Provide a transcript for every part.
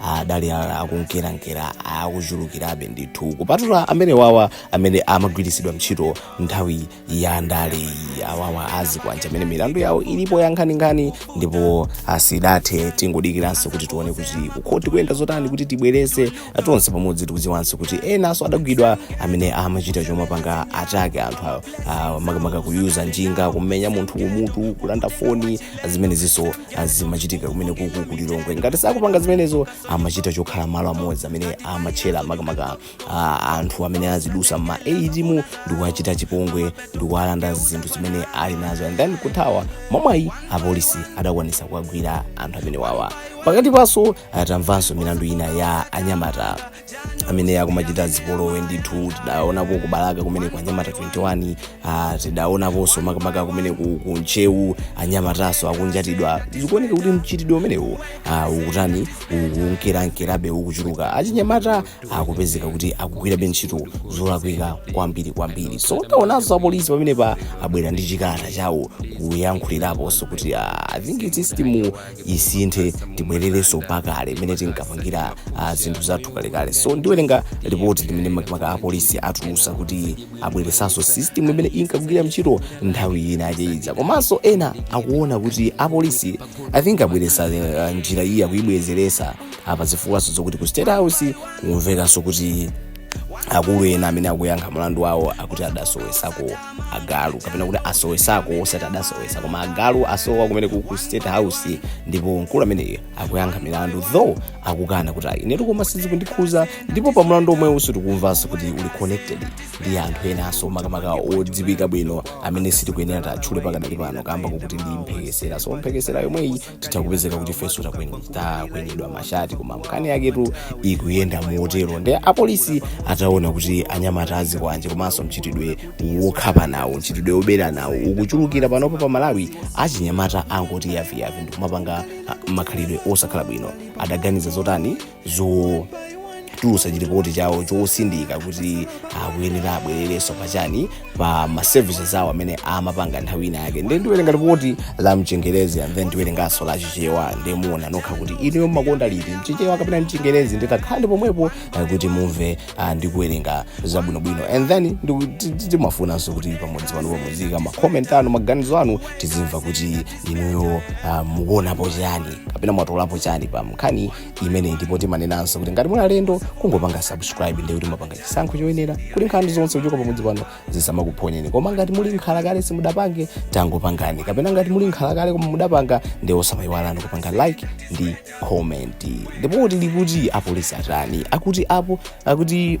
adali a- akunkerankera akuchulukirabe ndithu kupatula amene wawa amene amagwiritsidwa ntchito nthawi ya ndaleyi awawa azikwanja amene milandu yawo ilipo ya nkhaninkhani ndipo asidathe tingodikiranso kuti tione kuti kukhoti kuyenda zotani kuti tibwerese tonse pamodzi tikudziwanso kuti enanso adagwidwa amene amachita chomapanga attack anthu awo, ah, makamaka kuyuza njinga kumenya munthu kumutu kulanda foni zimenezinso zimachitika kumene kuku ku lilongwe ngati sakupanga zimenezo amachita chokhala malo amodzi amene amatchera makamaka ah, anthu amene azidusa ma atm ndikuwachita chipongwe ndikuwalanda zinthu zimene ali nazo and then kuthawa mwamwayi apolisi adakwanisa kuwagwira anthu amene wawa pakati paso tamvanso milandu ina ya anyamata amene akumachita zipolowe ndithu tidaonapo kubalaka kumene kwa anyamata 21 ah, tidaonaponso makamaka kumene ku, ku ntcheu anyamataso akunjatidwa zikuoneka kuti mchitidwe umenewu ah, ukutani ukunkerankerabe ukuchuluka achinyamata akupezeka kuti akugwirabe ntchito zolakwika kwambiri kwambiri so taonanso apolisi pamenepa abwera ndi chikalata chawo kuyankhuliraponso kuti ah, i think system isinthe tibwererenso pakale imene tinkapangira ah, zinthu zathu kalekale so ndiwerenga ripoti limene makamaka apolisi atulusa kuti abweresanso system imene inkagwira ntchito nthawi ina yake iza komanso ena akuona kuti apolisi i think abweresa eh, njira iyi akuyibwezeresa apa zifukwaso zokuti ku state house kumvekanso kuti akulu ena amene akuyankha mlandu wawo akuti adasowesako agalu kapena kuti asowesako osati adasowesa koma agalu asowa kumene ku ku state house ndipo mkulu ameneyu akuyankha milandu though akukana kuti ayi inetu koma sizikundikhuza ndipo pa mlandu omwewuso tikumvanso kuti uli connected ndi anthu enanso makamaka odziwika bwino amene sitikuyenera tatchule pakadali pano kamba kokuti ndi mphekesera so mphekesera yomweyi titakupezeka kuti ifenso takwen- takwenyedwa mashati koma nkhani yaketu ikuyenda motero ndi apolisi ataona kuti anyamata azikwanje komanso mchitidwe wokhapana wo mchitidwe woberana wo ukuchulukira panopo pa malawi achinyamata angoti yaviyavi ndikumapanga ah, makhalidwe osakhala bwino adaganiza zotani zotulutsa chiripoti chawo chosindika kuti akuyenera abwererenso pachani pa ma services awo amene amapanga nthawi ina yake nde ndiwerenga ripoti la mchingerezi and then ndiwerenganso la chichewa nde muona nokha kuti inuyo mumakonda liti mchichewa kapena mchingerezi nditakhale pomwepo eh, kuti mumve ah, ndi kuwerenga zabwinobwino and then ndiku- ti- ti- timafunanso kuti pamodzi pano muziika makoment anu maganizo anu tizimva kuti inuyo ah, mukuonapo chani kapena mwatolapo chani pa nkhani imeneyi ndipo timanenanso kuti ngati muli alendo kungopanga subscribe ndiye kuti mapanga chisankho choyenera kuti nkhani zonse kuchoka pamudzi pano zisamakuphonyeni koma ngati muli nkhala kale simudapange tangopangani kapena ngati muli nkhala kale koma mudapanga ndiye osamayiwalani kupanga like ndi comment ndipo kuti likuti apolisi atani akuti apo akuti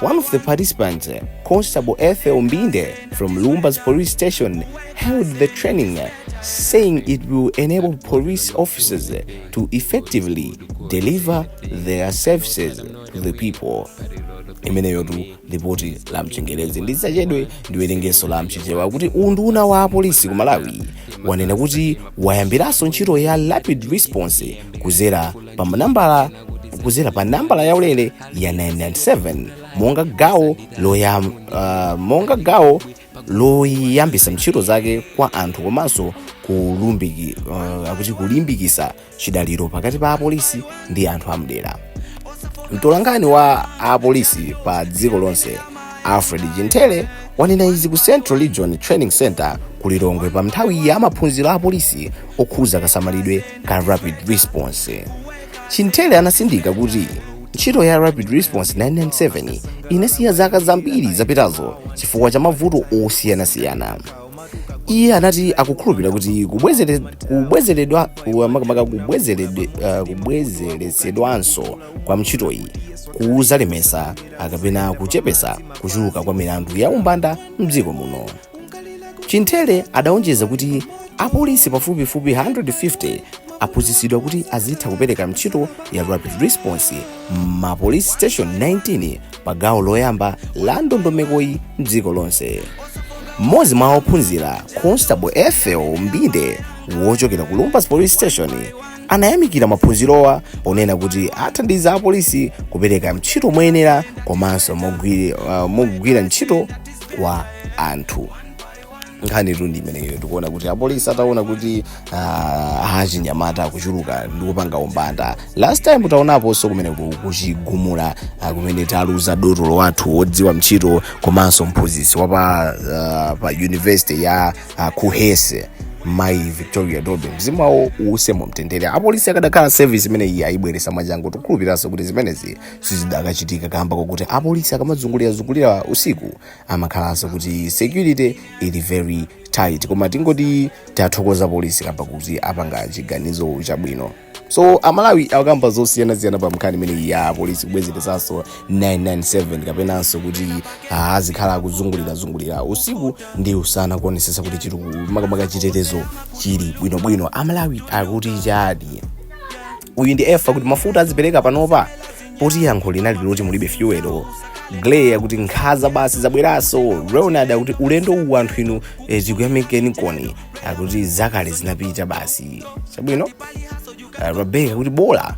One of the participants, Constable Ethel Mbinde from Lumbadzi police station, hailed the training, saying it will enable police officers to effectively deliver their services to the people. imeneyotu lipoti la mchengerezi ndisachedwe ndiwerengeso la mchichewa kuti unduna wa apolisi ku malawi wanena kuti wayambiranso ntchito ya rapid response kuzera pa manambala kuzera pa nambala yaulere ya 997 monga gawo loyam, uh, monga gawo loyambisa ntchito zake kwa anthu komanso kulumbiki, uh, akuti kulimbikisa chidaliro pakati pa apolisi ndi anthu amdera mtolankhani wa apolisi pa dziko lonse alfred chinthele wanena izi ku central region training center ku lilongwe pa nthawi ya maphunziro a apolisi okhuza kasamalidwe ka rapid response chinthele anasindika kuti ntchito ya rapid response 997 inasiya zaka zambiri zapitazo chifukwa cha mavuto osiyanasiyana iye anati akukhulupirira kuti kubwezere- kubwezeredwa ku- makamaka kubwezerede- eh, kubwezeretsedwanso kwa ntchitoyi kuzalemesa kapena kuchepesa kuchuluka kwa milandu ya umbanda mdziko muno chinthele adaonjeza kuti apolisi pafupifupi 150 aphunzitsidwa kuti azitha kupereka ntchito ya rapid response ma police station 19 pa gawo loyamba la ndondomekoyi mdziko lonse mmodzi mwa ophunzira constable ethel mbinde wochokera ku lumbadzi police station anayamikira maphunzirowa ponena kuti athandiza apolisi kupereka ntchito moyenera komanso mogwiri- ah, mogwira ntchito kwa anthu nkhanitu ndi imeneyo tikuona kuti apolisi ataona kuti ah, achinyamata akuchuluka ndi kupanga umbanda last time taonaponso kumene ku- kuchigumula ah, kumene taluza dotolo wathu wodziwa ntchito komanso mphunzitsi wa pa, ah, pa university ya ah, kuhes mayi victoria bobe mzimu wawo uuse mumtendere apolisi akadakhala service imene iyi ayibweresa mwachangu tikukhulupiriranso kuti zimenezi sizidakachitika kamba kokuti apolisi akamazungulirazungulira usiku amakhalanso kuti security ili very tight koma tingoti tathokoza polisi kamba kuti apanga chiganizo chabwino so amalawi akamba zosiyanasiyana pa mkhani imeneyi ya polisi kubwezeresanso 997 kapenanso kuti ah, azikhala akuzungulirazungulira usiku ndi usana kuonesesa kuti chiri makamaka chitetezo chili bwinobwino amalawi akuti chani uyu ndi efa kuti mafuta azipereka panopa poti yankho linali loti mulibe fuel gley akuti nkhaza basi zabweraso ronald akuti ulendo uwu anthu inu eh, tikuyamikeni koni akuti zakale zinapita basi chabwino uh, rebecca akuti bola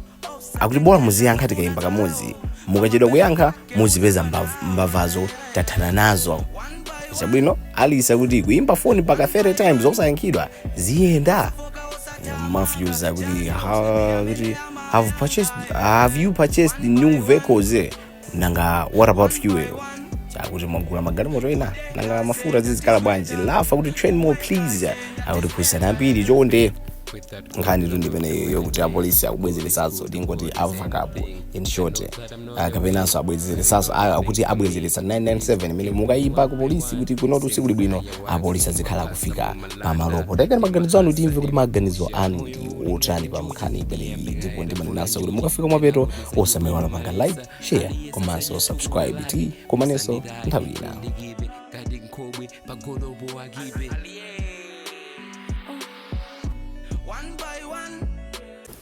akuti bola muziyankha tikayimba kamodzi mukachedwa kuyankha muzipeza mbav- mbavazo tathana nazo chabwino alice akuti kuimba foni mpaka 30 times osayankhidwa ziyenda matthews akuti ha- kuti have purchased have you purchased the new vehicles eh? nanga what about fuel akuti mwagula magalimoto ena nanga mafuta zizikhala bwanji lafa akuti train more please akuti phunzitsani ambiri chonde nkhanitu ndimene yokuti apolisi akubwezeresaso tingoti avakapo in short kapenanso abwezeresanso ah, akuti abwezeretsa 997 imene mukayimba ku polisi kuti kunotu sikuli bwino apolisi azikhala akufika pamalopo taikani maganizo anu timve kuti maganizo anu ndi otani pa nkhani imeneyi ndipo ndimanenanso kuti mukafika mapeto osamaiwala kupanga like share komanso subscribe tikumanenso nthawi ina